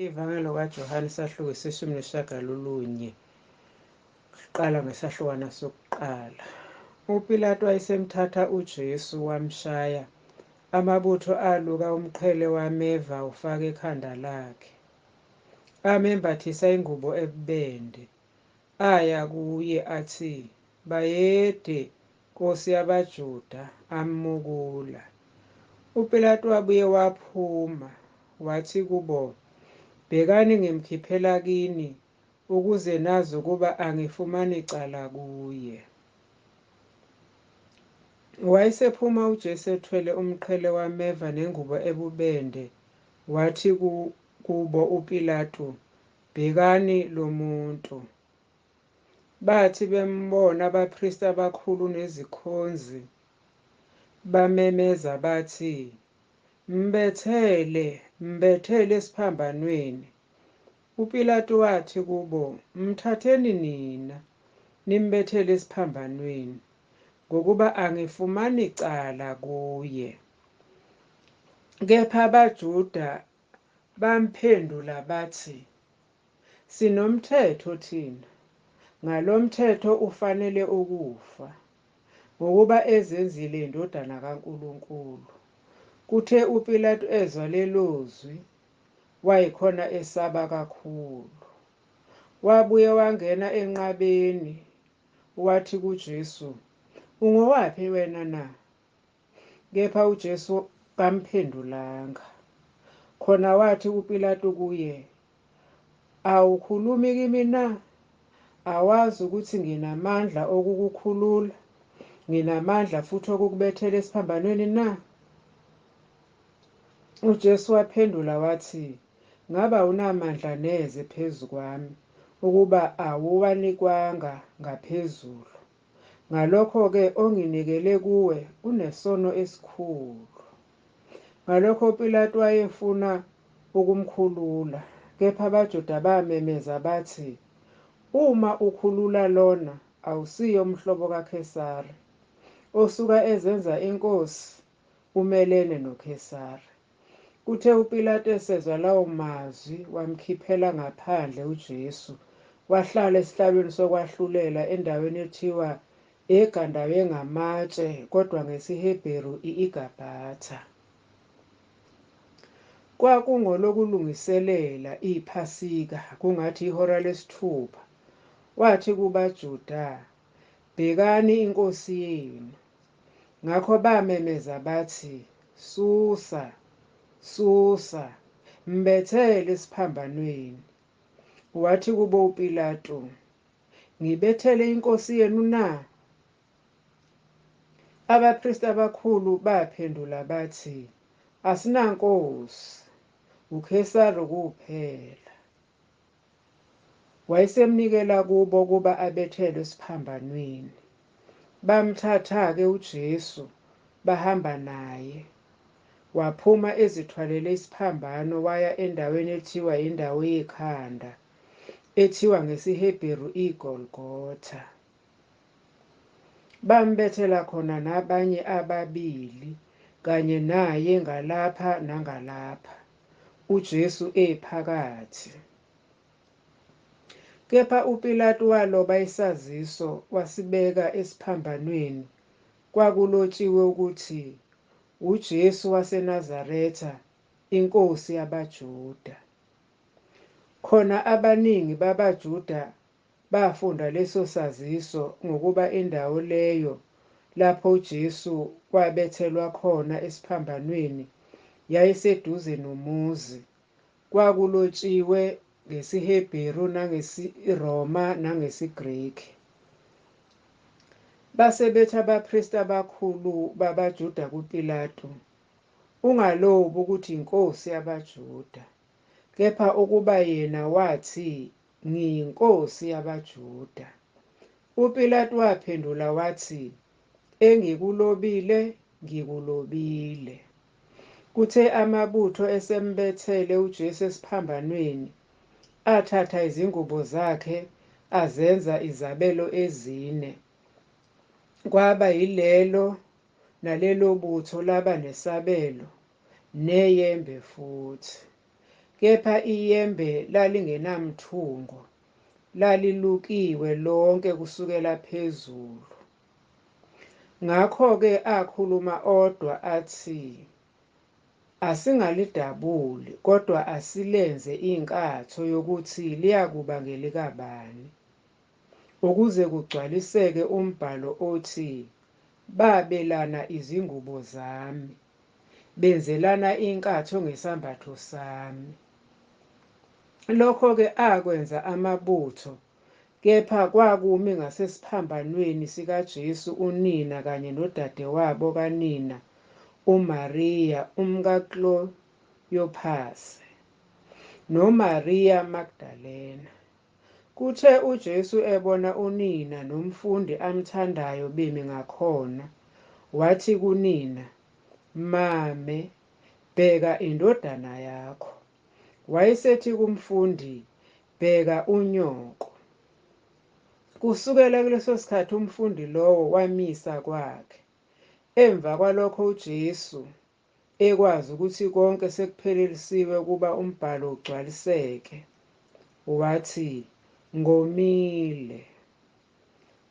Ivangelo kaJohane isahluko iseshumi neshagalolunye kuqala ngesahlukwana sokuqala. UPilatu wayesemthatha uJesu wamshaya. Amabutho aluka umqhele wameva ufaka ekhanda lakhe. Amembathisa ingubo ebubende. Aya kuye athi, Bayede, Nkosi yabaJuda, ammukula. UPilatu wabuye waphuma, wathi kubo, Bhekani ngimkhiphela kini, ukuze nazi ukuba angifumani cala kuye. Wayesephuma uJesu ethwele umqhele wameva nengubo ebubende, wathi kubo uPilatu, Bhekani lo muntu. Bathi bembona abapristi abakhulu nezikhonzi, bamemeza bathi, Mbethele! Mbethele esiphambanweni! UPilatu wathi kubo, Mthatheni nina, nimbethele esiphambanweni, ngokuba angifumani cala kuye. Kepha abaJuda bamphendula bathi, Sinomthetho thina. Ngalomthetho ufanele ukufa, ngokuba ezenzile iNdodana kaNkulunkulu. Kuthe uPilatu ezwa lelozwi, wayekhona esaba kakhulu. Wabuye wangena enqabeni, wathi kuJesu, Ungowaphi wena na? Kepha uJesu kamphendulanga. Khona wathi uPilatu kuye, Awukhulumi kimi na? Awazi ukuthi nginamandla okukukhulula, nginamandla futhi okukubethela esiphambanweni na? UJesu waphendula wathi, Ngabe awunamandla neze phezu kwami, ukuba awuwanikwanga ngaphezulu? Ngalokho-ke onginikele kuwe unesono esikhulu. Ngalokho uPilatu wayefuna ukumkhulula, kepha abaJuda bamemeza bathi, Uma ukhulula lona, awusiye umhlobo kaKhesari, osuka ezenza inkosi umelene noKhesari. Kuthe uPilatu esezwa lawo mazwi, wamkhiphela ngaphandle uJesu, wahlala esihlalweni sokwahlulela endaweni ethiwa eGandawengaMatshe, kodwa ngesiHebheru i-iGabhatha. Kwakungolokulungiselela iPhasika, kungathi ihora lesithupha. Wathi kubaJuda, Bhekani inkosi yenu! Ngakho bamemeza bathi, Susa! Susa! Mbethele esiphambanweni! Wathi kubo uPilatu, Ngibethele inkosi yenu na? Abapristi abakhulu baphendula bathi, Asinankosi, uKhesari kuphela. Wayesemnikela kubo ukuba abethelwe esiphambanweni. Bamthatha-ke uJesu bahamba naye. Waphuma ezithwalele isiphambano waya endaweni ethiwa yiNdawo Yekhanda, ethiwa ngesiHebheru iGolgotha. Bambethela khona nabanye ababili kanye naye ngalapha nangalapha. uJesu ephakathi. Kepha uPilatu waloba isaziso wasibeka esiphambanweni kwakulotshiwe ukuthi uJesu waseNazaretha inkosi yabaJuda. Khona abaningi babaJuda bafunda leso saziso ngokuba indawo leyo lapho uJesu wabethelwa khona esiphambanweni yayiseduze nomuzi. Kwakulotshiwe ngesiHebheru nangesiRoma nangesiGreki. Base bethi abapristi abakhulu babaJuda kuPilatu, Ungalobi ukuthi yiNkosi yabaJuda. Kepha ukuba yena wathi Ngiyinkosi yabaJuda. UPilatu waphendula wathi, Engikulobile, ngikulobile. Kuthe amabutho esembethele uJesu esiphambanweni, athatha izingubo zakhe azenza izabelo ezine. Kwaba yilelo nalelo butho laba nesabelo, neyembe futhi. kepha iyembe lalingenamthungo, lalilukiwe lonke kusukela phezulu. Ngakho-ke akhuluma odwa athi, Asingalidabuli, kodwa asilenze inkatho yokuthi liyakuba ngelikabani, ukuze kugcwaliseke umbhalo othi, Babelana izingubo zami. benzelana inkatho ngesambatho sami. Lokho-ke akwenza amabutho, kepha kwakumi ngasesiphambanweni sikaJesu unina kanye nodadewabo kanina, uMariya umkaKloyophase, noMariya Magdalena. Kuthe uJesu ebona unina nomfundi amthandayo bemi ngakhona, wathi kunina, Mame, bheka indodana yakho. Wayesethi kumfundi, Bheka unyoko. Kusukela kuleso sikhathi umfundi lowo wamisa kwakhe. Emva kwalokho uJesu. ekwazi ukuthi konke sekuphelelisiwe ukuba umbhalo ugcwaliseke, wathi, Ngomile.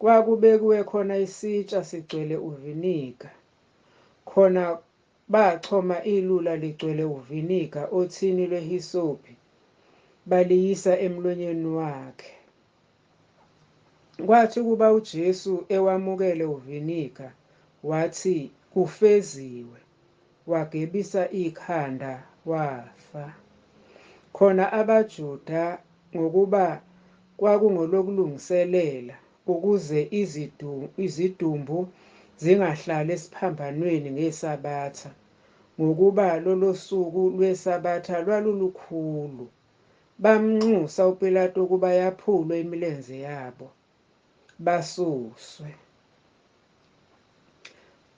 Kwakubekiwe khona isitsha sigcwele uviniga, khona bachoma ilula ligcwele uviniga othini lwehisopi, baliyisa emlonyeni wakhe. Kwathi ukuba uJesu ewamukele uviniga, wathi, Kufeziwe, wagebisa ikhanda, wafa. Khona abaJuda, ngokuba kwakungolokulungiselela, ukuze izidumbu zingahlali esiphambanweni ngeSabatha, ngokuba lolosuku lweSabatha lwalulukhulu, Bamnxusa uPilatu ukuba yaphulwe imilenze yabo, basuswe.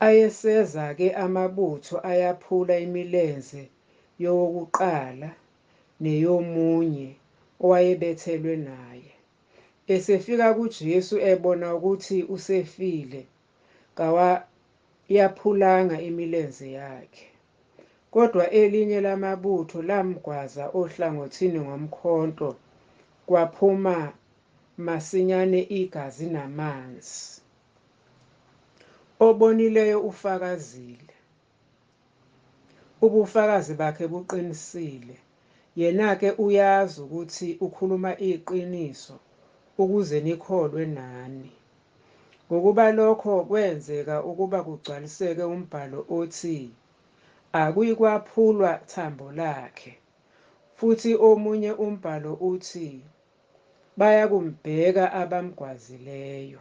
Ayeseza-ke amabutho ayaphula imilenze yowokuqala neyomunye owayebethelwe naye. Esefika kuJesu ebona ukuthi usefile, kawayaphulanga imilenze yakhe, kodwa elinye lamabutho lamgwaza ohlangothini ngomkhonto kwaphuma masinyane igazi namanzi. Obonileyo ufakazile. Ubufakazi bakhe buqinisile. Yena-ke uyazi ukuthi ukhuluma iqiniso ukuze nikholwe nani. Ngokuba lokho kwenzeka ukuba kugcwaliseke umbhalo othi, Akuyikwaphulwa thambo lakhe. Futhi omunye umbhalo uthi, Bayakumbheka abamgwazileyo.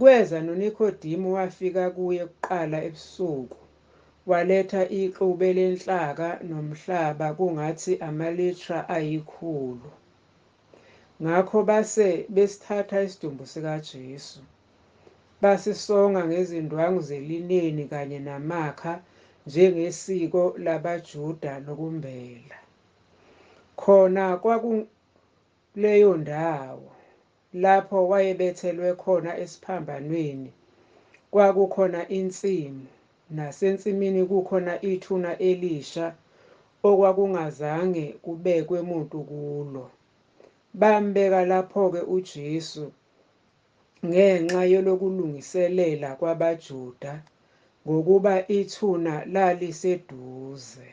Kweza noNikhodimu wafika kuye kuqala ebusuku, waletha ixube lenhlaka nomhlaba kungathi amalitra ayikhulu. Ngakho base besithatha isidumbu sikaJesu, basisonga ngezindwangu zelineni kanye namakha njengesiko labaJuda lokumbela. Khona kwakuleyo ndawo. Lapho wayebethelwe khona esiphambanweni kwakukhona insimu, nasensimini kukhona ithuna elisha okwakungazange kubekwe muntu kulo. Bambeka laphoke uJesu ngenxa yelokulungiselela kwabaJuda, ngokuba ithuna laliseduze.